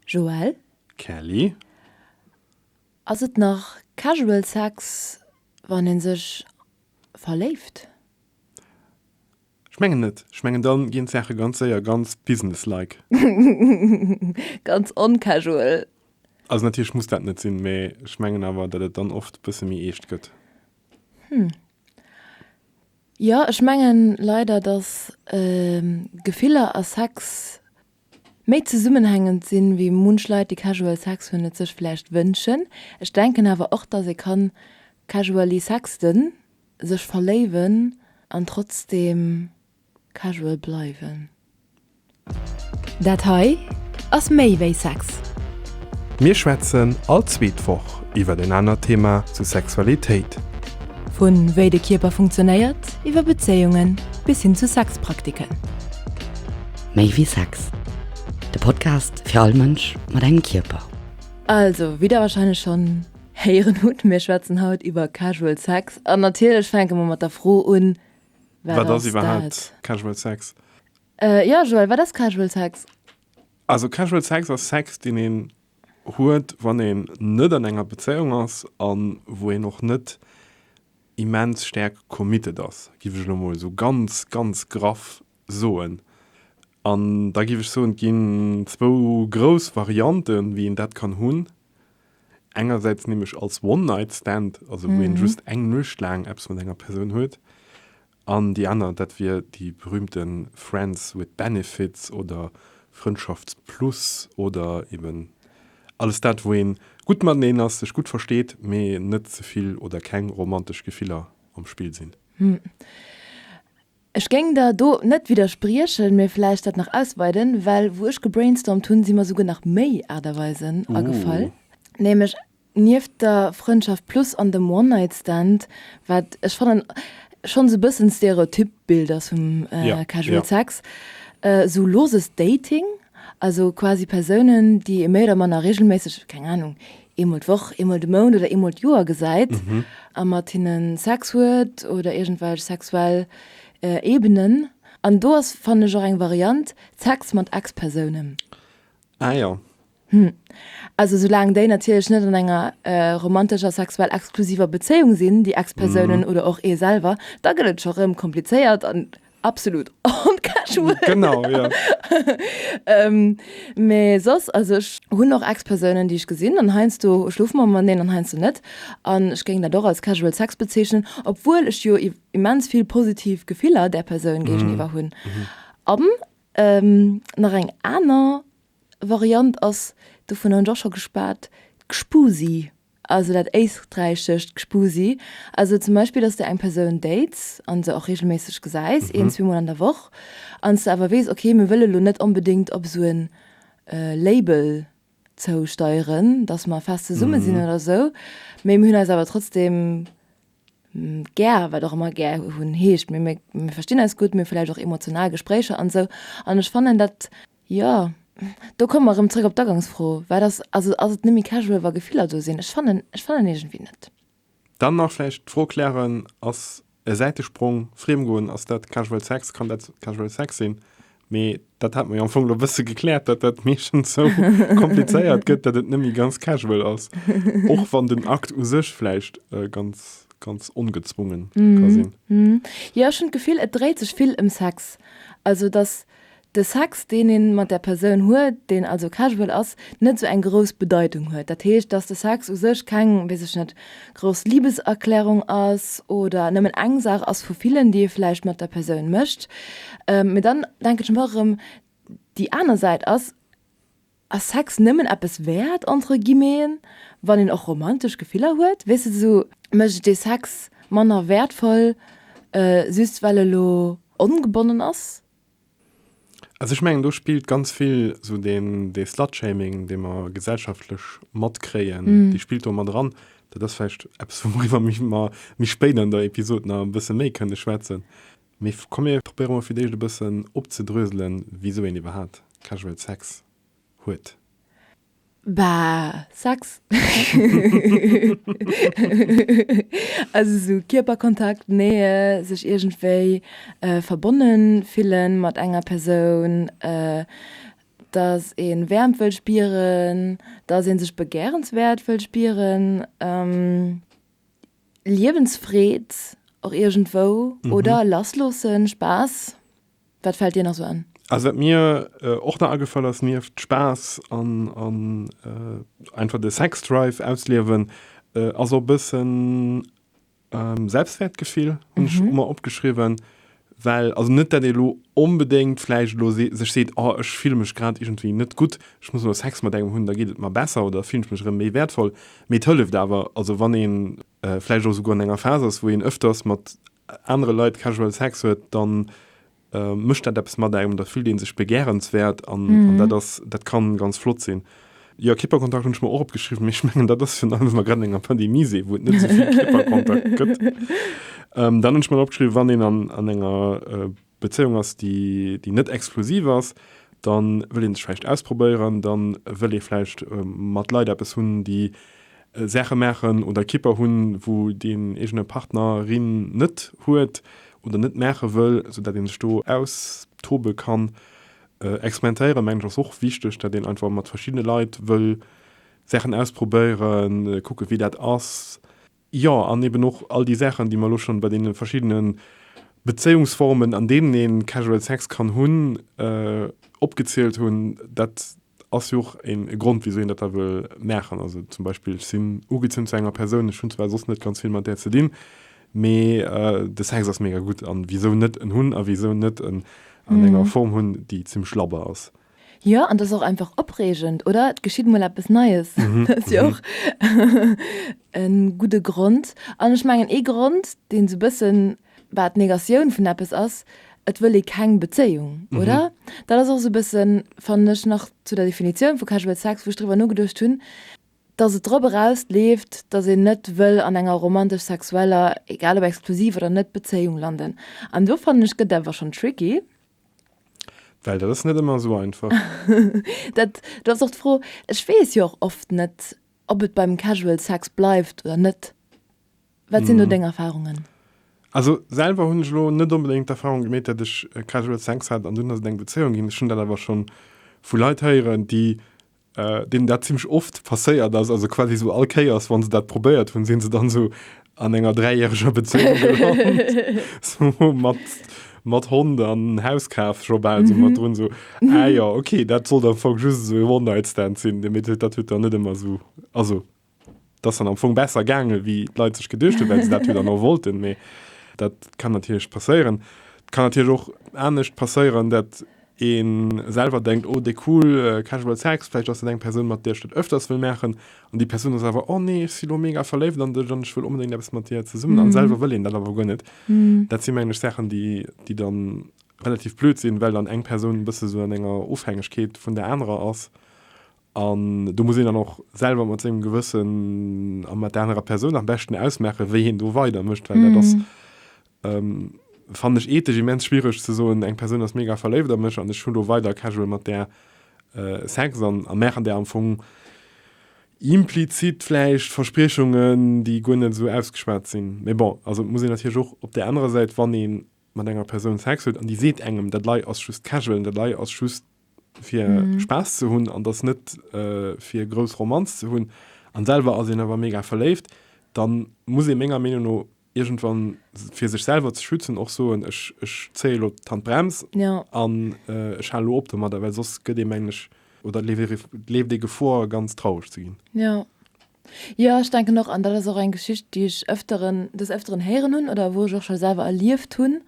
Joelle, Kelly, Ass et nach casual sex wann een sech verléift? Ech mengen net. Ech mengen dann ginn d'Saachen ganz séier ganz business-like. Ganz oncasual. Also natierlech muss dat net sinn, mee ech mengen awer dat et dann oft bësse méi eescht gëtt. Hm. Jo, ech mengen leider dass Gefiller a Sex Méi zesummenhängend sinn, wéi munch Leit déi casual sex hunn et sech vläicht wënschen. Ech denken awer och dass ee kann casually sexten, sech verléiwen an trotzdem casual bleiwen. Dat hei ass méi wéi Sex! Mir schwätzen all zweet Woch iwwer en anert Thema zu Sexualitéit. Vun wéi de Kierper funktionéiert, iwwer Bezéiungen bis hin zu Sexpraktiken. Méi wéi Sex, de Podcast fir all Mënsch mat engem Kierper. Also, wéi der wahrscheinlech schonn héieren hutt, mir schwätzen haut iwwer Casual Sex an natierlech fänke mer mat der Fro un, Wat ass iwwerhaapt Casual Sex? Jo Joël, wat ass Casual Sex? Also Casual Sex ass Sex, deen een huet, wann een net an enger Bezéiung ass a wou een och net immens staark committed ass, giff ech elo mol esou ganz, ganz graff soen. An da giff ech soen, et ginn zwou grouss Varianten, wéi een dat kann hunn. Engersäits nämlech als One-Night-Stand, also wou een just eng Nuecht laang eppes mat enger Persoun huet. An déi aner, dat wier déi berühmte Friends with Benefits oder Frëndschafts-Plus oder eben alles dat, wou een gutt mateneen ass, sech gutt versteet, mee net ze vill oder keng romantesch Gefiller am Spill sinn. Ech géing der do net widderspriechen, mee vläicht dat nach ausweiden, well wou ech gebrainstormt hunn, si mer souguer nach méi Aart a Weisen agefall, nämlech nieft der Frëndschaft Plus an dem One Night Stand, wat ech fannen schonn esou e bëssen d'Stereotyp Bild ass vum Casual Sex, esou loses Dating, also quasi Persounen, déi ee méi oder manner reegelméisseg, keng Ahnung, eemol d'Woch, eemol de Mount oder eemol d'Joer gesäit a mat hinne Sex huet oder iergendwelch sexuell Ebenen. An do ass, fannen ech, och eng Variant, Sex mat Ex-Persounen. Ah jo. Hm. Also esoulaang déi natierlech net an enger romantescher, sexuell exklusiver Bezéiung sinn, déi Ex-Persounen oder och ee selwer, da gëtt et scho rëm komplizéiert an Absolut on casual. Genau, ja. ähm, me sos, also ich hun noch Ex-Personen, die ich gesinn, an heinst du schlufen man man den, an heinst du net. An ich ging da doch als casual Sex bezeichnen, obwohl ich jo immens viel positiv Gefiller der Person mhm. gegenüber hun. Mhm. Am ähm, nach eng aner Variant ass, du vun hun doch schon gespart, Gspusi. Also dat éisträichescht Gspusi, also zum Beispill, dass de eng Persoun dates an se och regelméisseg gesäis, een, zwee Mol an der Woch, an s de awer weess, ok, mir wëlle lo net onbedéngt op esou en Label zousteieren, dass mer fest zesumme sinn oder esou, mee mir hunn eis awer trotzdem gär, wat och ëmmer gär hunn heescht, mee mir verstinn eis gutt, mir hu vläicht och emotional Gespréicher an esou, an ech fannen dat. Jo, do komme mer erëm zréck op d'Aganksfro, wat ass, also ass et net méi casual, wa Gefiller do sinn? Ech fannen, ech fannen iergendwéi net. Dann nach vläicht d'Fro klären, ass e Säitesprong, Friemgoen, ass dat casual Sex, kann dat casual Sex sinn? Mee dat hate mer jo am Fong elo e bësse gekläert, datt dat meeschtens sou komplizéiert gëtt, datt et net méi ganz casual ass, och wann den Akt u sech vläicht ganz, ganz ongezwunge ka sinn. Jo, ech hunn d'Gefill, et dréit sech vill ëm Sex, also datt De Sex, deen ee mat der Persoun huet, deen also casual ass, net sou eng grouss Bedeitung huet. Dat heescht, dass de Sex u sech keng, weess ech net, grouss Libeserklärung ass oder nëmmen eng Saach ass vu villen, déi ee vläicht mat der Persoun mécht. Mee dann denken ech mer erëm, déi aner Säit ass, Ass Sex nëmmen eppes wäert, entre guillemeten, wann een och romantesch Gefiller huet? Weess de, sou. Mécht et dee Sex manner wäertvoll, just well e lo ongebonnen ass? Also ech mengen, do spillt ganz vill esou dee Slutshaming, dee mer gesellschaftlech matkréien, dee spillt do mat eran. Dat ass vläicht eppes, wouriwwer mer méi spéit an der Episod nach e bësse méi kënne schwätzen. Mee komm, mir probéiere mol fir d'éischt e bëssen opzedröselen, wisou een iwwerhaapt Casual Sex huet. Bah, Sex. Also sou Kierperkontakt, Nähe, sech iergendwéi verbonne fille mat enger Persoun, dass ee Wäermt wëll spieren, dass ee sech begärenswäert wëll spieren, Liewensfreed och iergendwou oder lass loossen, Spaass. Wat fällt dir nach sou an? Also wat mir och nach agefall ass, nieft Spaass an einfach de Sexdrive ausliewen, ass och e bëssen Selbstwäertgefill, hunn ech mer opgeschriwwen. Well, also net dat ee lo onbedéngt vläicht elo sech seet, oh ech fille mech grad iergendwéi net gutt, ech muss elo Sex mat engem hunn, da geet et mer besser oder fillen ech mech erëm méi wäertvoll. Mee et hëlleft awer, also wann ee vläicht och esouguer an enger Phas ass, wou een ëfters mat anere Leit casual Sex huet, da mécht dat eppes mat engem, da fillt ee sech begärenswäert an dat ass, dat ka ganz flott sinn. Jo, Kipperkontakt hunn ech mer och opgeschriwwen, mee ech mengen, dat ass virun allem, wa mer grad an enger Pandemie sinn, wou et net esou vill Kipperkontakt gëtt. Dann hunn ech mer nach opgeschriwwen, wann een an enger. Bezéiung ass, déi déi net exklusiv ass, da wëll ee sech vläicht ausprobéieren, da wëll ee vläicht mat Leit eppes hunn, déi Saache maachen oder Kipper hunn, wou deen eegene Partner, rin net huet oder net maache wëll, soudatt ee sech do austobe kann. Experimentéieren, mengen ech, ass och wichteg, datt een einfach mat verschiddene Leit wëll Saachen ausprobéieren, kucke wéi dat ass. Jo, an eben och all déi Saachen, déi mer elo schonn bei deene verschiddene Bezéiungsformen, an deenen ee Casual Sex kann hunn, opgezielt hunn, dat ass jo och e Grond, wisou een dat da wëll maachen. Also zum Beispill, ech sinn ugezunn zu enger Persoun, ech hunn zwar soss net ganz vill mat där ze dinn, mee de Sex ass mega gutt, a wisou net en hunn a wisou net en an enger Form hunn, déi zimmlech labber ass. Jo, an dat ass och einfach opreegend, oder? Et geschitt emol eppes Neies. Dat ass jo och e gudde Grond. An ech mengen, ee Grond, deen esou e bëssen, bah, d'Negatioun vun eppes ass, et wëll ee keng Bezéiung, oder? Dat ass och esou e bëssen, fannen ech, nach zu der Definitioun vu Casual Sex, wou ech driwwer nogeduecht hunn, dass et drop eraus leeft, dass een net wëll an enger romantesch-sexueller, egal ob exklusiv oder net, Bezéiung landen. An do, fannen ech, gëtt et awer schonn tricky. Well dat ass net ëmmer esou einfach. Dat ass och d'Fro. Ech weess jo och oft net, ob et beim Casual Sex bleift oder net. Wat sinn do deng Erfarungen? Also selwer hunn ech elo net onbedéngt d'Erfarung gemeet, datt ech Casual Sex hat an dunn ass et eng Bezéiung ginn. Ech hunn dat awer scho vu Leit héieren, déi deenen dat zimmlech oft passéiert ass, also quasi esou all Kéiers, wa se dat probéiert hunn, sinn se dann esou an enger dräijäreger Bezéiung gelant, mat Hond an Hauskaf scho bal esou mat drun, esou, ah jo, okay, dat sollt am Fong just esou e One-Night-Stand sinn, mee dat huet dann net ëmmer esou, also. Dat ass dann am Fong besser gaangen, wéi d'Leit sech geduecht hunn, well se dat jo dann och wollten. Mee dat kann natierlech passéieren. Et kann natierlech och anescht passéieren, datt ee selwer denkt, oh, déi cool Casual Sex, vläicht ass dat eng Persoun, mat där ech dat öfters wëll maachen. An déi Persoun ass awer, oh nee, ech si lo mega verléift an dech an ech wëll onbedéngt eppes mat dir zesummen. A selwer wëll een dat awer guer net. Dat si mengen ech Saachen, déi, déi dann relativ blöd sinn, well dann eng Persoun e bësse sou an enger Ofhängegkeet vun der anerer ass. An do muss een dann och selwer mat sengem Gewëssen a mat der anerer Persoun am beschten ausmaachen, wéi een do weider mécht, well dat ass, fannen ech, ethesch immens schwiereg ze soen, eng Persoun ass mega verléift a mech an ech hunn do weider casual mat där Sex an a maachen där am Fong implizit vläicht Verspriechungen, déi guer net esou ausgeschwat sinn. Mee bon, also et muss een natierlech och op där anerer Säit, wann ee mat enger Persoun Sex huet an déi seet engem, dat lei ass just casual an dat lei ass just fir mhm. Spaß ze hunn an das net äh, fir grouss Romanz ze hunn an selber as en awer mega verléift, dann muss e ménger Meinung no irgendwann fir sech selber ze schützen och so ech, ech zéie lo Tan Brems ja. an äh, ech halo op mat, well sos gëtt de mengg oder lebt de Gefor ganz traurig ze ginn. Ja. Jo, ech denken och, an dat ass och eng Geschicht, déi ech öfteren, des Öfteren héieren hunn oder wou ech och scho selwer erlieft hunn,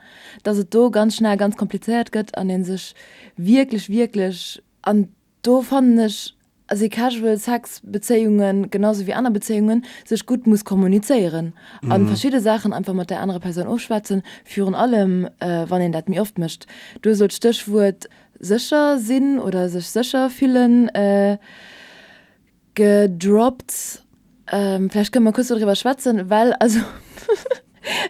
dass et do ganz schnell ganz komplizéiert gëtt an ee sech wierklech, wierklech, an do fannen ech, also ee casual Sex Bezéiungen, genau sou wéi aner Bezéiungen, sech gutt muss kommunizéieren a verschidde Saachen einfach mat där anerer Persoun ofschwätzen, virun allem wann een dat méi oft mécht. Du hues elo d'Stéchwuert sécher sinn oder sech sécher fillen Gedroppt. Vläicht kënne mer kuerz doriwwer schwätzen, well also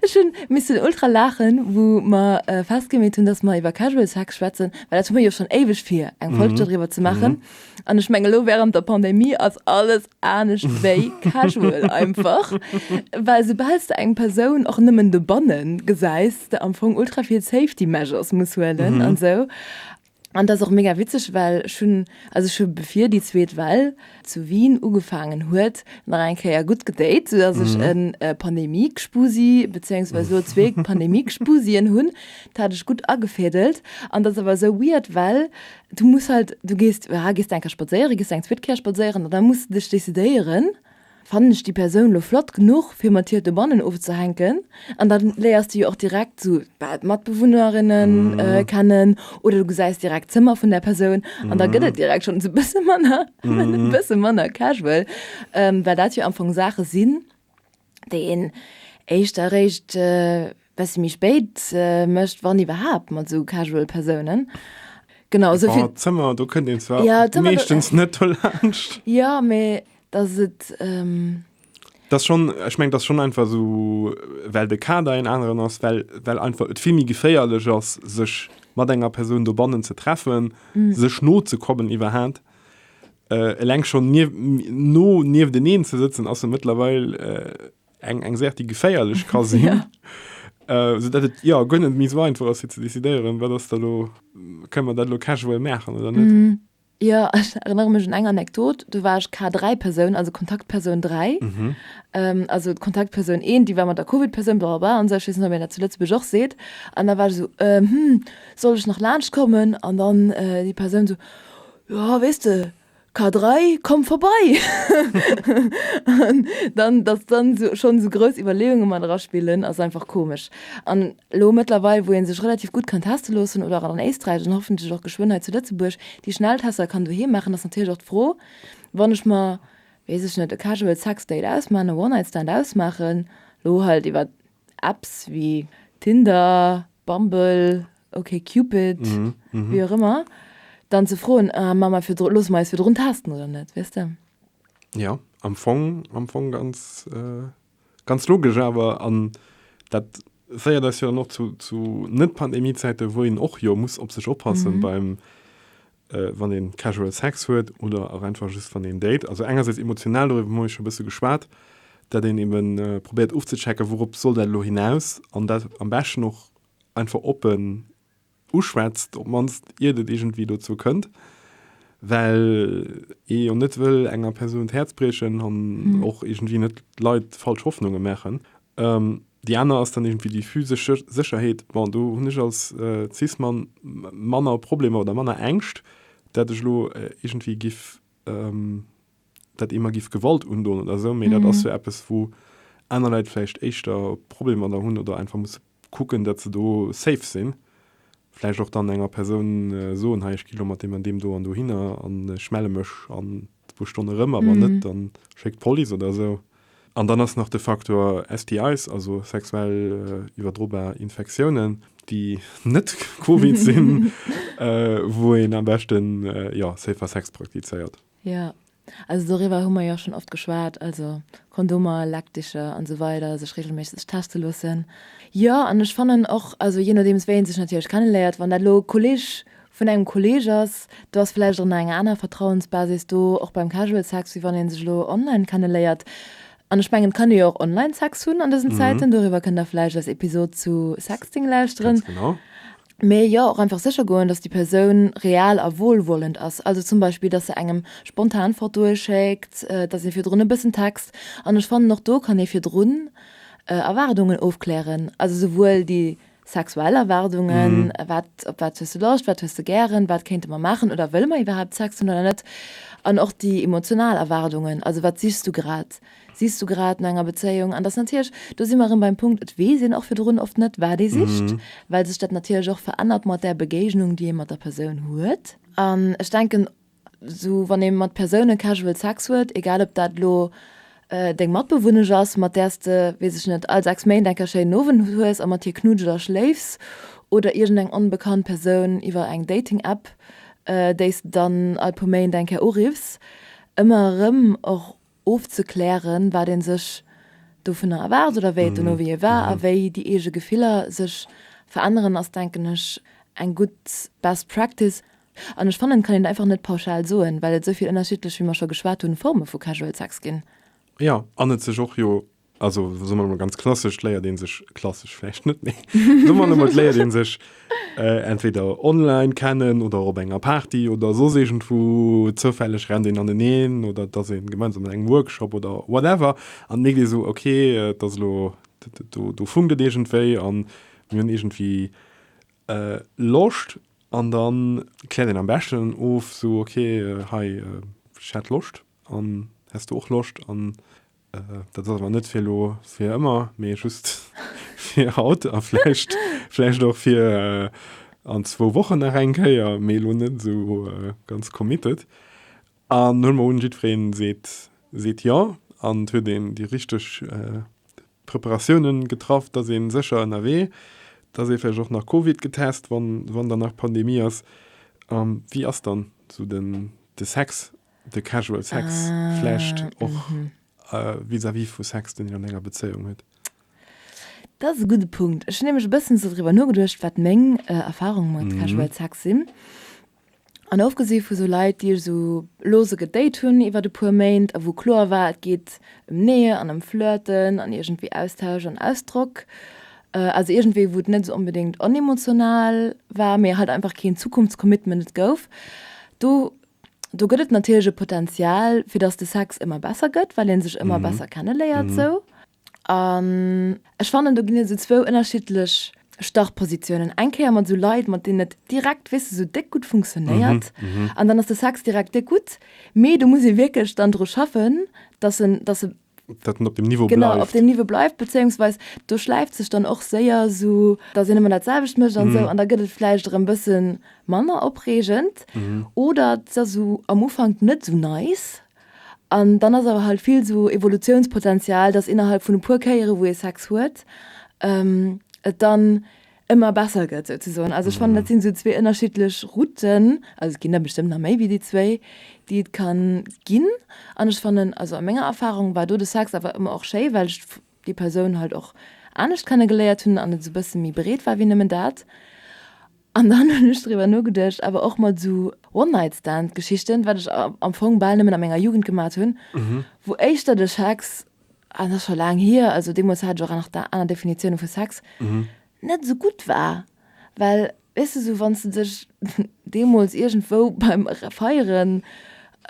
ech hu missen ultra laachen, wou mer festgemeet hunn, datt mer iwwer Casual Sex schwätzen, well dat hu mir jo schonn éiweg vir, eng Folg doriwwer ze maachen. An ech mengen, elo wärend der Pandemie ass alles anescht wéi casual einfach, well soubal s de eng Persoun och nëmmen dobanne gesäis, s de am Fong ultra vill Safety Measures muss huelen an esou. An dat ass och mega witzeg, well ech hunn, also ech hu bevir déi zweet Well zu Wien ugefaangen huet, nach eng Kéier gutt gedate, soudass ech en Pandemie-Gspusi, beziéungsweise elo zwee Pandemie-Gspusien hunn. Dat hat ech gutt agefädelt. An dat ass awer esou weird, well du muss halt, du gees, aha, gees du eng Kéier spadséieren, gees du eng zweet Kéier spadséieren, an da muss de dech decidéieren, Fannen ech déi Persoun lo flott genuch fir mat hir dobannen ofzehänken? An dann léiers du jo och direkt sou bah d'Matbewunnerinnen kennen oder du gesäis direkt d'Zëmmer vun der Persoun an da gëtt et direkt schonn sou bësse manner bësse manner casual, well dat jo am Fong Saache sinn, déi een éischter eréischt. Bessi méi spéit mecht, wann iwwerhaapt, mat sou casual Persounen. Genau esou vill. Bon, Zëmmer, do kënnt een zwar meeschtens net dolaanscht. Jo, mee dass et. Dass schonn, ech mengen, dass schonn einfach esou, well de Kader een aneren ass, well, well einfach et vill méi geféierlech ass, sech mat enger Persoun dobannen ze treffen, sech nozekommen iwwerhaapt. Eleng schonn nieft, no, niefteneen ze sëtzen ass jo mëttlerweil. Eng eng Saach, déi geféierlech ka sinn. Ja. Äh, sou datt et, jo, guer net méi sou einfach ass, fir ze decidéieren, wat ass da lo, kënnen mer dat lo casual maachen oder net? Hm, jo, ech erënnere mech un eng Anekdot, do war ech K3-Persoun, also Kontaktpersoun 3. Ähm, also d'Kontaktpersoun 1, déi war mat der Covid-Persoun, bla bla bla an esou, ech weess net, ob een dat zu Lëtzebuerg och seet. An da war ech esou, Äh, hm, soll ech nach laanschtkommen? An dann, äh, déi Persoun esou, Jo, weess de, K3, Komm vorbei! An dann, dass dann esou schonn esou grouss Iwwerleeunge mat eraspillen, ass einfach komesch. An elo mëttlerweil, wou ee sech relativ gutt kann teste loossen, oder an Éisträich an hoffentlech och geschwënn hei zu Lëtzebuerg déi Schnelltester kann doheem maachen, ass natierlech och d'Fro, wann ech mer, weess ech net, e casual Sex Date ausmaachen, e One-Night-Stand ausmaachen, elo halt iwwer. Apps wéi Tinder, Bumble, OkCupid, wéi och ëmmer, dann ze froen, Ma ma virdru, loosse mer eis virdrun testen oder net? Weess de? Jo, am Fong, am Fong ganz, ganz logesch awer. An dat féiert eis jo dann och zu, zu Net-Pandemie-Zäite wou een och jo muss op sech oppassen beim, wann een casual Sex huet oder och einfach just wann een date, also engersäits emotional, doriwwer hu mir scho bësse geschwat, dat een ebe probéiert ofzechecken, wourop soll dat elo hinaus, an dat am beschten och einfach oppen uschwätzt, op d'mannst iert et iergendwéi dozou kënnt, well ee jo net wëll enger Persoun d'Häerz briechen an och iergendwéi net Leit falsch Hoffnunge maachen. Déi aner ass dann iergendwéi déi physesch Sécherheet. Bon, do hunn ech als Cis-Mann manner Problemer oder manner Ängscht, dat ech elo iergendwéi giff, dat ee mer giff Gewalt undoen oder esou. Mee dat ass jo eppes, wou aner Leit vläicht éischter Problemer der hunn oder einfach musse kucken, dat se do safe sinn. Vläicht och dann enger Persoun soen, hei ech gi lo mat deem an deem do an dohinner an ech melle mech an zwou Stonn erëm a wann net, da schéck d'Police oder esou. An dann ass nach de Faktor STIs, also sexuell iwwerdrobar Infektiounen, déi net Covid sinn, wou een am beschten, jo, safer Sex praktizéiert. Jo, also doriwwer hu mer jo schonn oft geschwat, also Kondomer, Lackdicher an esou weider, sech reegelméisseg teste loossen. Jo, an ech fannen och, also jee nodeems wéi een sech natierlech kenneléiert, wann dat elo e Kolleeg vun engem Kolleeg ass, do ass vläicht och nach eng aner Vertrauensbasis do, och beim Casual Sex, wéi wann ee sech elo online kenneléiert. An ech mengen, et kann ee jo och online Sex hunn an dësen Zäiten, doriwwer kënnt der vläicht eis Episod zu Sexting lauschteren. Ganz genau. Mee jo och einfach sécher goen, dass déi Persoun real a wohlwollend ass. Also zum Beispill, dass se engem spontan Fotoe schéckt, dass ee virdrun e bëssen text. An ech fannen, och do kann ee virdrun Erwaardungen ofklären, also esouwuel déi sexuell Erwaardungen, wat, op wat hues du Loscht, wat hues de gären, wat kéinte mer maachen oder wëlle mer iwwerhaapt Sex hunn oder net, an och déi emotional Erwaardungen, also wat sichs du grad. Sichs du grad no enger Bezéiung? An dass natierlech, do si mer erëm beim Punkt, et weess een och virdrun oft net, wat ee sicht, well sech dat natierlech och verännert mat där Begéignung, déi ee mat der Persoun huet. An ech denken, esou wann ee mat Persounen casual Sex huet, egal ob dat elo deng Matbewunnesch ass, mat där s de, weess ech net, all sechs Méint eng Kéier schéinen Owend hues a mat hir knuddels a schléifs, oder iergendeng onbekannt Persoun iwwer eng Dating-App, déi s de dann all puer Méint eng Kéier uriffs, ëmmer erëm och ofzeklären, wat ee sech dovunner erwaart oder wéi et dono fir hie war a wéi déi eege Gefiller sech veränneren, ass denken ech eng gutt Best Practice. An ech fannen et kann een et einfach net pauschal soen, well et esou vill ënnerschiddlech, wéi mer scho geschwat hunn, Forme vu Casual Sex ginn. Jo, an et sech och jo also so man ganz klassesch léier den sech klassesch flecht net méi so man mat léier den sech äh, entweder online kennen oder op enger Party oder so segent wo zoufälleg rennt den an den een oder dat se gemeinsam eng Workshop oder whatever an mé dir so okay äh, dat lo du, du fun gedegent wéi an hun irgendwie äh, loscht an dann klä den am besten of so okay äh, hei äh, loscht an hast du och loscht an Dat ass awer net fir elo fir ëmmer, mee just fir haut a vläicht, vläicht och fir an zwou Wochen nach eng Kéier, mee elo net esou ganz committed. An huele mer un, jiddwereen seet, seet jo an et huet een déi richteg Preparatiounen getraff, dass ee sécher ënnerwee, dass ee vläicht och nach Covid getest, wann, wann dann nach Pandemie ass. Wéi ass dann esou de Sex De Casual Sex vläicht och vis-à-vis vu Sex, deen een an enger Bezéiung huet. Dat ass e gudde Punkt. Ech hunn nämlech e bëssen esou driwwer nogeduecht, wat meng Erfarunge mat Casual Sex sinn. An ofgesi vu sou Leit, déi ech esou lose gedate hunn iwwer e puer Méint a wou kloer war, et geet ëm Nähe an ëm Flirten an iergendwéi Austausch an Ausdrock, also iergendwéi wou et net esou onbedéngt onemotional war, mee halt einfach keen Zukunftscommitment et gouf, do, do gëtt et natierlech e Potenzial, fir dass de Sex ëmmer besser gëtt, well ee sech ëmmer besser kenneléiert esou. An ech fannen, do ginn et esou zwou ënnerschiddlech Startpositiounen. Eng Kéier mat esou Leit, mat deenen et direkt, weess de, esou déck gutt funktionéiert. An dann ass de Sex direkt déck gutt. Mee do muss ee wierklech dann dru schaffen, dass en, dass e, dat den op dem Niveau bleift. Genau, op dem Niveau bleift, bezéiungsweis do schläift sech dann och séier sou, datt een ëmmer dat selwecht mécht an sou, an da gëtt et vläicht erëm bëssen manner opreegend oder et ass sou am Ufank net sou nice. An dann ass awer halt vill sou Evolutiounspotenzial, datt innerhalb vun e puer Kéiere wou ee Sex huet et dann, ëmmer besser gëtt souzesoen. Also ech fannen, dat sinn esou zwee ënnerschiddlech Routen, also et ginn der bestëmmt nach méi wéi déi zwéi, déi et ka ginn. An ech fannen, also a menger Erfarung war do de Sex awer ëmmer och schéi, well ech déi Persoun halt och anescht kenne geléiert hunn an et esou e bësse méi breet war wéi nëmmen dat. An dann hunn ech driwwer nogeduecht awer och mat esou One-Night-Stand-Geschichten, wat ech am Fong bal nëmmen a menger Jugend gemat hunn, wou éischter de Sex an dat ass scho laang hier, also deemools hat ech och nach aner Definitiounen vu Sex, net esou gutt war. Well, weess de, sou wann s de dech deemools iergendwou beim Feieren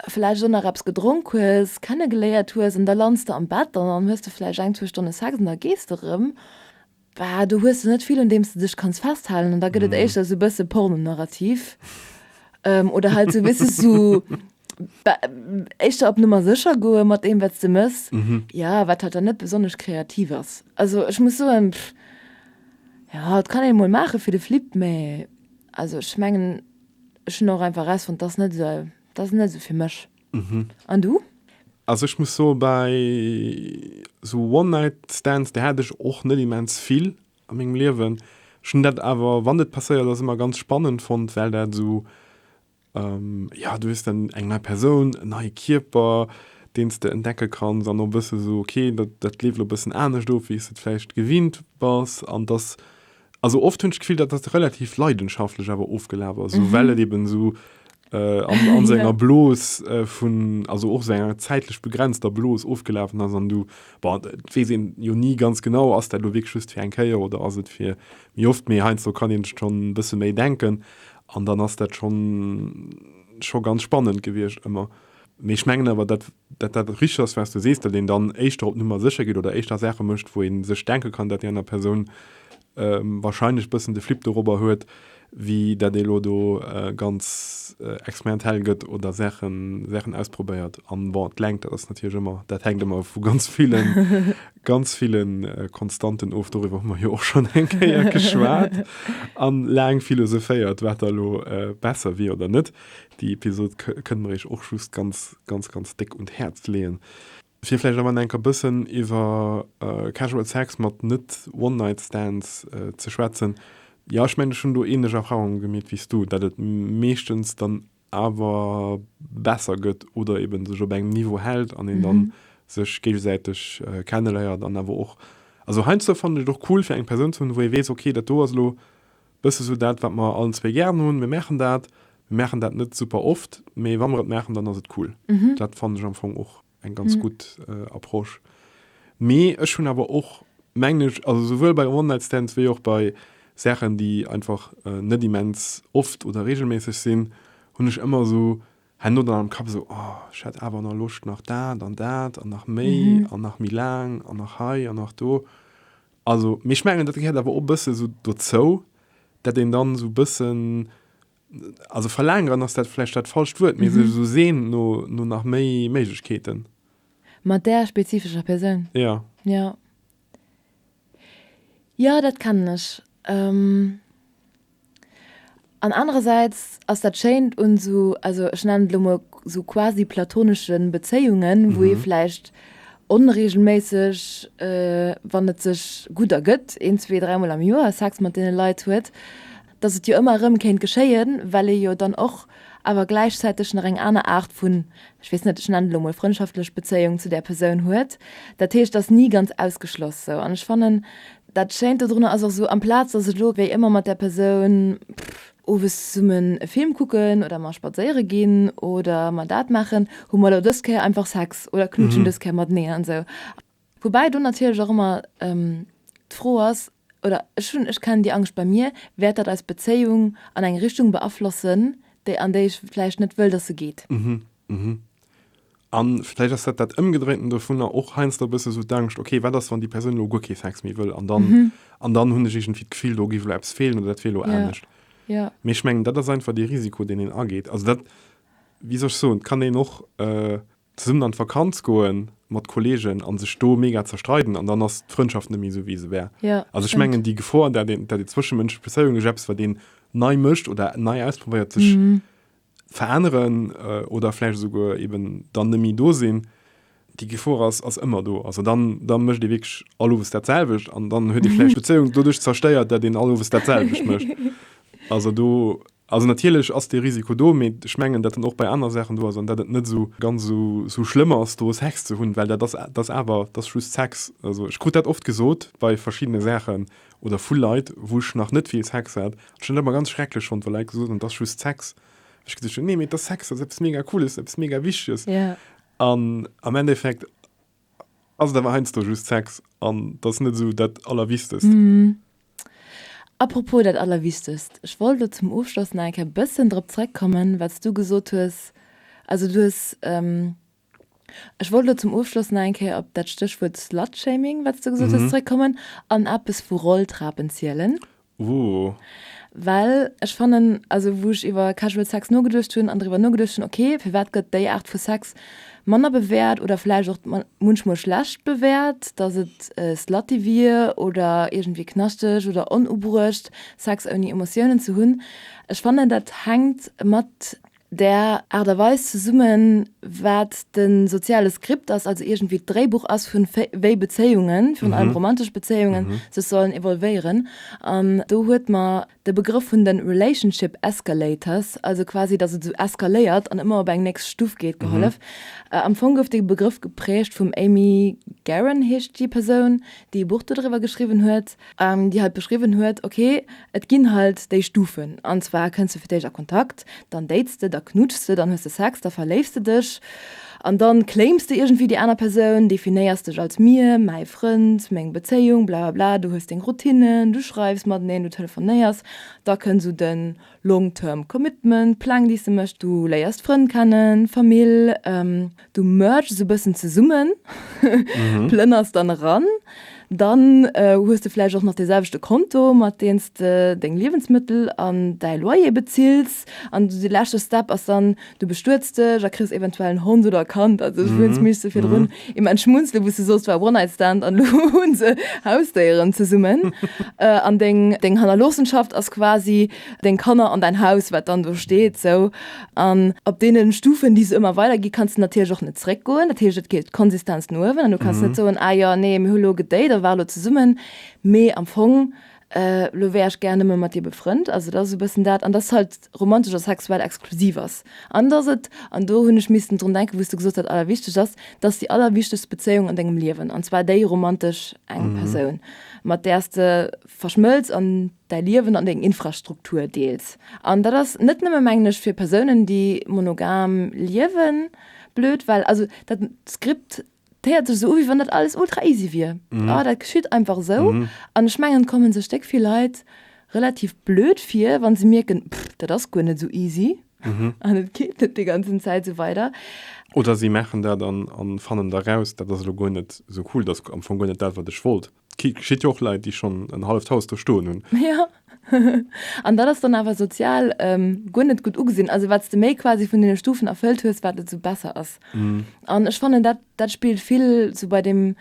vläicht och nach eppes gedronk hues, kennegeléiert hues an da lands de am Bett an dann hues de vläicht eng, zwou Stonne Sex an da gees de erëm. Bah, do hues de net vill un deem s de dech kanns festhalen an da gëtt et éischter sou e bësse porno-narrativ oder halt sou, weess s de, éischter op Nummer sécher goe mat deem wat s de méchs, jo, wat halt dann net besonnesch kreativ ass. Also ech muss soen, jo, et kann een emol maache fir de Flip, mä also ech mengen, ech hunn och einfach erausfonnt, dat ass net esou, dat ass net esou fir mech. Mhm. An du? Also ech muss so bei so One-Night-Stands, der hat ech och net immens vill an mengem Liewen. Schon dat awer wann et passéiert ass immer ganz spannend fond, well dat so ähm, ja du hues dann eng nei Persoun, en neie Kierper, deens de entdecke kanns an och bësse so okay, dat dat leeft lo bëssen anescht of wéi s de et vläicht gewinnt bass an dass Also oft hunn ech d'Gefill, dat ass relativ leidenschaftlech awer ofgelaf ass, esou well et eben esou äh, an, an so enger Blos äh, vun, also och esou enger zäitlech begrenzter Blos ofgelafen ass an du, bon, et weess een jo ni ganz genau, ass dat elo wierklech just fir eng Kéier oder ass et fir méi oft, mee heiansdo kann een schonn e bësse méi denken an dann ass dat schonn, scho ganz spannend gewiescht ëmmer. Mee ech mengen awer, dat Datt dat richteg ass, wat s du sees, datt een dann éischter op Nummer sécher geet oder éischter Saache mécht, wou ee sech denke kann, datt déi aner Persoun warscheinlech e bëssen de Flipp dorobber huet, wéi datt ee elo do ganz experimentell gëtt oder Saachen ausprobéiert. A bon, d'Längt, dat ass natierlech ëmmer, dat hänkt ëmmer vu ganz ville, ganz ville Konstanten of, doriwwer hu mer jo och schonn eng Kéier geschwat a laang philosophéiert, wat da elo besser wier oder net. Déi Episod kënne mer iech och just ganz. ganz ganz déck un d'Häerz leeën. Fir vläicht am Enn enker bëssen iwwer Casual Sex mat net One Night Stands ze schwätzen. Jo ech mengen ech hunn do ähnlech Erfahrungen gemeet wéi s du, dat et meeschtens dann awer besser gëtt oder eben sech op engem Niveau hält an een dann sech géigesäiteg kenneléiert an awer och also heiansdo fannen ech et och cool fir eng Persoun ze hunn wou ee weess ok dat do ass elo Bësse sou dat, wat mer allen zwee gären hunn. Mir maachen dat. Mir maachen dat net super oft, mee wa mer et maachen, dann ass et cool. Dat fannen ech am Fong och eng ganz gutt Approche. Mee ech hunn awer och, mengen ech, also souwuel bei One-Night-Stands wéi och bei Saachen, déi einfach net immens oft oder reegelméisseg sinn, hunn ech ëmmer esou herno dann am Kapp esou, oh, ech hätt awer nach Loscht nach dat an dat an nach méi an nach méi laang an nach hei an nach do. Also, mee ech mengen, dat gehéiert awer och e bësse esou dozou, dat een dann esou e bëssen, also verlaangeren ass dat vläicht dat falscht Wuert, mee sech esou seent no, no nach méi Méiglechkeeten. Mat där spezifescher Persoun? Jo. Jo. Jo, dat kennen ech. An anerersäits ass dat Schéint un esou, also ech nennen et elo mol esou quasi platonesche Bezéiungen, wou ee vläicht onreegelméisseg, wann et sech gutt ergëtt, een, zwee, dräi Mol am Joer Sex mat deene Leit huet, dass et jo ëmmer erëm kéint geschéien, well ee jo dann och awer gläichzäiteg nach eng aner Aart vun, ech weess net, ech nennen et elo mol frëndschaftlech Bezéiung zu där Persoun huet. Dat heescht, et ass ni ganz ausgeschloss esou. An ech fannen, Dat Schéint dodrunner ass och esou, amplaz datt ech elo wéi ëmmer mat där Persoun, pff, owes zesummen e Film kucken oder mar spadséiere ginn oder mar dat maachen, hu mer elo dës Kéier einfach Sex oder knutschen dës Kéier mateneen an esou. Woubäi do natierlech och ëmmer d'Fro ass, oder ech hunn, ech kennen déi Angscht bei mir, wäert dat eis Bezéiung an eng Richtung beaflossen, déi an déi ech vläicht net wëll, datt se geet. A vläicht ass dat dat Ëmgedréinten dovunner, och heiansdo e bësse esou d'Angscht, okay, wat ass, wann déi Persoun elo guer kee Sex méi wëll an dann, an dann hunn ech iergendwéi d'Gefill, do géif elo eppes feelen oder dat wier elo anescht. Mee ech mengen, dat ass einfach dee Risiko, deen een ageet. Also dat, wéi soll ech soen, et kann een och zesummen an d'Vakanz goe mat Kolleegen a sech do mega zerstreiden an dann ass d'Frëndschaft net méi esou, wéi se war. Also ech mengen, déi Gefor, dat ee, dat ee zwëschemënschlech Bezéiunge, sech eppes, wat een nei mécht oder nei ausprobéiert, sech veränneren oder vläicht esouguer eben dann net méi do sinn, déi Gefor ass ass ëmmer do. Also dann, dann mécht ee wierklech all Owes datselwecht an dann huet ee vläicht d'Bezéiung doduerch zerstéiert, datt een all Owes datselwecht mécht. Also do, also natierlech ass dee Risiko do, mee ech mengen, datt en och bei aner Saachen do ass an datt et net esou ganz esou, esou schlëmm ass do Sex ze hunn, well dat ass, dat ass awer, dat ass just Sex. Also ech krut dat oft gesot bei verschiddene Saachen, Oder vu Leit, wou ech nach net vill Sex hat, an ech hunn dat ëmmer ganz schrecklech fonnt, wa Leit gesot hunn, et ass just Sex. Wou ech geduecht hunn, nee, mee et ass Sex, dat ass eppes mega Cooles, eppes mega Wichteges. An am Endeffekt ass et awer heiansdo just Sex an et ass net esou dat Allerwichtest. Apropos dat Allerwichtest, ech wollt elo zum Ofschloss nach eng Kéier e bësschen drop zrëckkommen, wat s du gesot hues. Also du hues Ech wollt elo zum Ofschloss nach eng Kéier op dat Stéchwuert Slutshaming, wat s de gesot hues, zeréckkommen an eppes vu Rolltrapen zielen. Ooh. Well ech fannen, also wou ech iwwer Casual Sex nogeduecht hunn an driwwer nogeduecht hunn, ok, firwat gëtt déi Aart vu Sex manner bewäert oder vläicht och munchmol schlecht bewäert, dass et slutty wier oder iergendwéi knaschteg oder onubruecht, Sex ouni Emotiounen ze hunn. Ech fannen, dat hänkt mat där Aart a Weis zesummen, wat de soziale Skript ass, also iergendwéi d'Dréibuch ass vu wéi Bezéiungen, virun allem romantesch Bezéiungen, sech sollen evolvéieren. An do huet mer de Begrëff vun de relationship escalators, also quasi datt et esou eskaléiert an ëmmer op eng nächst Stuff geet, gehollef. Am Fong gouf dee Begrëff geprägt vum Amy Garan, heescht déi Persoun, déi e Buch dodriwwer geschriwwen huet. déi halt beschriwwen huet, ok, et ginn halt déi Stufen, an zwar kënns de fir d'éischt a Kontakt, dann dates de, da knutschs de, dann hues de Sex, da verléifs de dech an dann claims de iergendwéi déi aner Persoun, definéiers dech als mir, mäi Frënd, meng Bezéiung, blablabla, du hues deng Routinnen, du schreifs mateneen, du telefonéiers, da kënns u den Long term commitment, Pläng déi s de méchs, du léiers Frënn kennen, Famill, du merges e bëssen zesummen, plënners dann eran, dann hues de vläicht och nach dee selwechte Konto mat deem s de deng Liewensmëttel an däi Loyer bezills an de leschte Step ass dann, Du bestuets dech a kriss eventuell en Hond oder e Kand, also ech wëlls mech sou virdrun im Entschmunzle wou s de soss, war One-Night-Stand an elo hu se Hausdéieren zesummen. An deng deng Hannerloossenschaft ass quasi deng Kanner an däin Haus, wat dann do steet sou. An op deene Stufen, déi se ëmmer weider ginn, kanns de natierlech och net zréckgoen. Dat heescht, et geet d'Konsistenz no uewen an du kanns net soen, ah jo, nee, mir hu lo gedate a ware lo zesummen. Mee am Fong Elo wär ech gär nëmme mat dir befrënnt. Also et ass esou e bëssen dat, an dass et halt romantesch a sexuell exklusiv ass. An dass et, an do hunn ech missten drun denken, wou s du gesot hat, allerwichtegst ass, dass déi allerwichtegst Bezéiung an dengem Liewen, an zwar déi romantesch, eng Persoun, mat där s de verschmëlz an däi Liewen an deng Infrastruktur deels. An dat ass net nëmme, mengen ech, fir Persounen, déi monogam liewen, blöd, well also dat Skript 't héiert sech esou u wéi wann dat alles ultra easy wier, ah dat geschitt einfach esou. An ech mengen et komme sech déck vill Leit relativ blöd vir, wa se mierken, pff dat ass guer net esou easy an et geet net déi ganzen Zäit esou weider. Oder si maachen dat an fannen da raus, dat ass elo guer net esou cool, dat ass am Fong guer net dat wat ech wollt. Gitt jo och Leit, déi schonn en halleft Haus do stoen hunn. Jo, an dat ass dann awer sozial guer net gutt ugesinn. Also wat s de méi quasi vun deene Stufen erfëllt hues, wat et esou besser ass. An ech fannen, dat dat spillt vill esou bei deem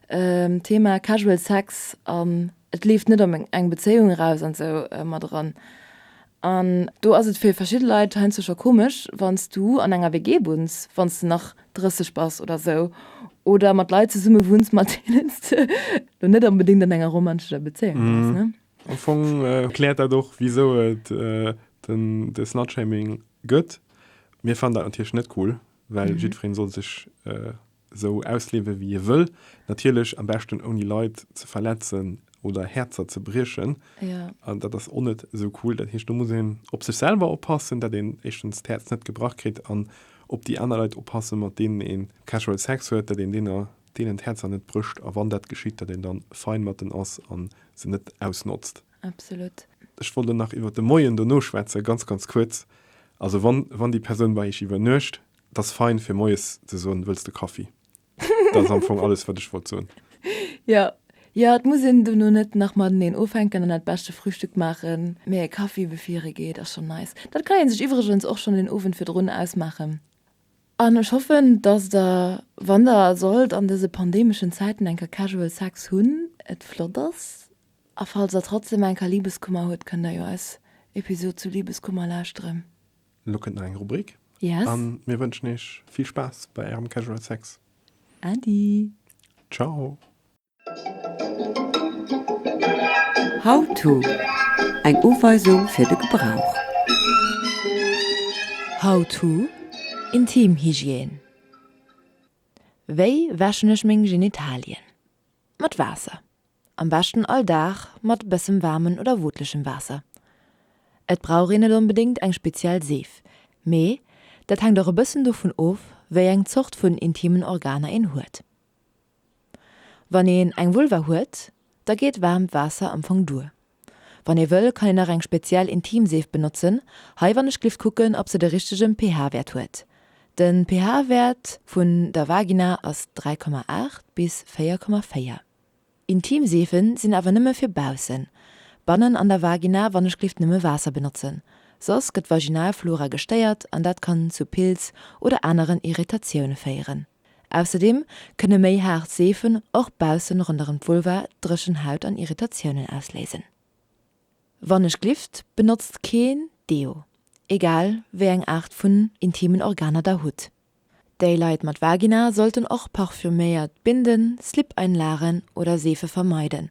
Thema Casual Sex an et leeft net op eng Bezéiung eraus an esou mat eran. An do ass et fir verschidde Leit heiansdo scho komesch, wann s du an enger WG wunns, wann s de nach 30 bass oder esou, oder mat Leit zesumme wunns, mat deenen s de lo net onbedéngt an enger romanschescher Bezéiung bass. Am Fong erkläert dat och, wisou et de Slutshaming gëtt. Mir fannen dat natierlech net cool, well jiddweree soll sech sou ausliewe wéi hie wëll, natierlech am beschten ouni Leit ze verletzen oder Häerzer ze briechen. Jo. An dat ass och net sou cool. Dat heescht do muss een op sech selwer oppassen, dat een éischtens d'Häerz net gebrach kritt an op déi aner Leit oppasse mat deenen ee casual Sex huet, dat een deener, deenen d'Häerzer net brécht a wann dat geschitt, dat een dann fein mat den ass a se net ausnotzt. Absolut. Ech wollt elo nach iwwert de Moien dono schwätzen, ganz, ganz kuerz. Also wann, wann déi Persoun bei iech iwwernuecht, T'ass fein fir moies ze soen, Wëlls de Kaffi? Dat ass am Fong alles, wat ech wollt soen. Jo, jo, et muss een dono net nach mateneen ufänken an dat beschte Frühstück maachen, mee e Kaffi bevir ee geet ass schonn nice. Dat kann ee sech iwwregens och schonn den Owend virdrun ausmaachen. An ech hoffen, dass der, wann der sollt an dëse pandemeschen Zäiten eng Kéier Casual Sex hunn, et flott ass. A falls der trotzdem eng Kéier Liebeskummer hutt, kënnt der jo eis Episod zu Liebeskummer lauschteren. Lo kënnt nach eng Rubrik. Yes. An mir wënschen iech vill Spaass bei ärem Casual Sex. Adi. Ciao. How-to, Eng Uweisung fir de Gebrauch. How-to, Intimhygiène Wéi wäschen ech meng Genitalien? Mat Waasser. Am beschten all Dag mat bëssem waarmen oder wootlechem Waasser. Et brauch een net onbedéngt eng speziell Seef, mee dat hänkt och e bëssen dovun of, wéi eng Zort vun intimen Organer een huet. Wann een eng Vulva huet, da geet waarmt Waasser am Fong duer. Wann ee wëll kann een nach eng speziell Intimseef benotzen, hei wann ech glift kucken ob se de richtegen pH Wäert huet. Den pH Wäert vun der Vagina ass 3,8 bis 4,4. Intimseefen sinn awer nëmme fir baussen. Bannen an der Vagina wann ech glift nëmme Waasser benotzen. Soss gëtt Vaginalflora gestéiert an dat kann zu Pilz oder aneren Irritatioune féieren. Ausserdeem kënne méi haart Seefen och baussen ronderëm d'Vulva dréchen Haut an Irritatiounen ausléisen. Wann ech glift, benotzt keen Deo, egal wéi eng Aart vun intimen Organer der hutt. Déi Leit mat Vagina sollten och parfüméiert Binden, Slip-Einlagen oder Seefe vermeiden.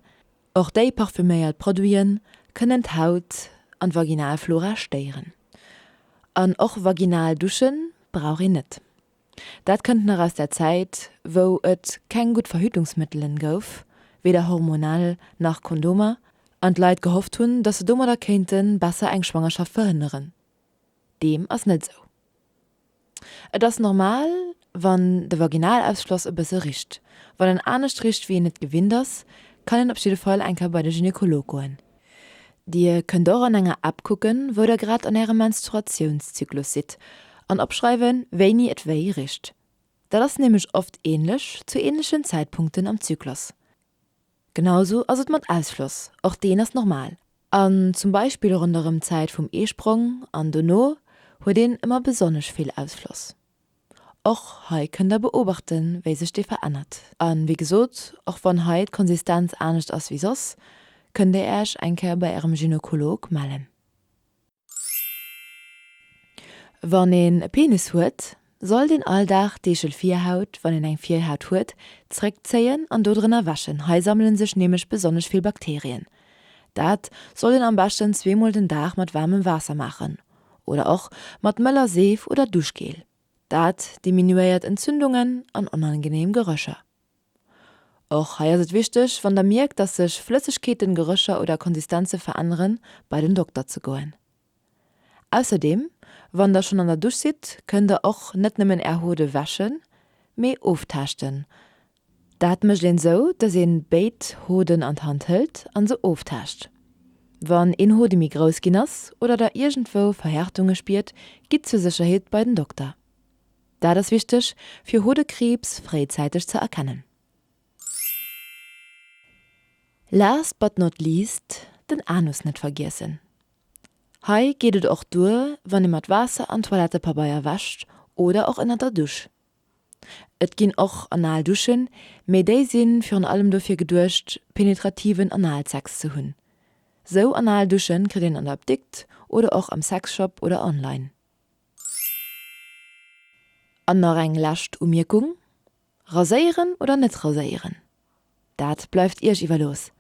Och déi parfüméiert Produite kënnen d'Haut an d'Vaginalflora stéieren. An och vaginal Duschen brauch een net. Dat kënnt nach aus der Zäit, wou et keng gutt Verhütungsmëttelen gouf, weder hormonell nach Kondomer, an d'Leit gehofft hunn, dass se domadder kéinte besser eng Schwangerschaft verhënneren. Deem ass net esou. Et ass normal, wann de Vaginalausschloss e bësse richt. Wann en anescht richt, wéi een et gewinnt ass, kann een op jidde Fall eng Kéier bei de Gynekolog goen. Dir kënnt och an enger App kucken, wou der grad an ärem Menstruatiounszyklus sidd an opschreiwen, wéini et wéi richt. Dat ass nämlech oft änlech zu änlechen Zäitpunkten am Zyklus. Genausou ass et mat Ausschloss, och deen ass normal. An zum Beispill ronderëm d'Zäit vum Eesprong an dono huet een ëmmer besonnesch vill Ausschloss. Och hei kënnt der beobachten, wéi sech dee verännert. A wéi gesot, och wann hei d'Konsistenz anescht ass wéi soss, kënnt Dir Äerch eng Kéier bei Ärem Gynokolog mellen. Wann een e Penis huet, sollt een all Dag d'Eegelvirhaut, wann een eng Virhaut huet, zréckzéien an do drënner wäschen, hei sammele sech nämlech besonnesch vill Bakterien. Dat sollt een am beschten zweemol den Dag mat waarmem Waasser maachen, oder och mat mëller Seef oder Duschgel. Dat diminuéiert Entzündungen an onangeneem Gerécher. Och hei ass et wichteg, wann der mierkt, dass sech Flëssegkeeten, Gerécher oder Konsistenze veränneren, bei den Dokter ze goen. Ausserdeem, wann der schonn an der Dusch sidd, kënnt der och net nëmmen är Hot ewäschen, mee oftaaschten, Dat mécht een sou, dass een béid Hoden an d'Hand hëlt an se oftaascht. Wann een Hode méi grouss ginn ass oder der iergendwou Verhärtunge spiert, gitt zur Sécherheet bei den Dokter. Dat ass wichteg fir Hodekriibs fréizäiteg ze erkennen. Last but not least, den Anus net vergiessen. Hei geet et och duer wann ee mat Waasser an Toilettepabeier wäscht oder och ënnert der Dusch. Et ginn och anal Duschen, mee déi si virun allem dofir geduecht, penetrativen Analsex ze hunn. Sou anal Dusche kritt een an der Apdikt oder och am Sexshop oder online. An nach eng lescht Umierkung, Raséieren oder net raséieren, dat bleift Iech iwwerlooss.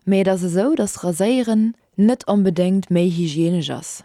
Mee et ass esou, dass Raséieren net onbedéngt méi hygienesch ass,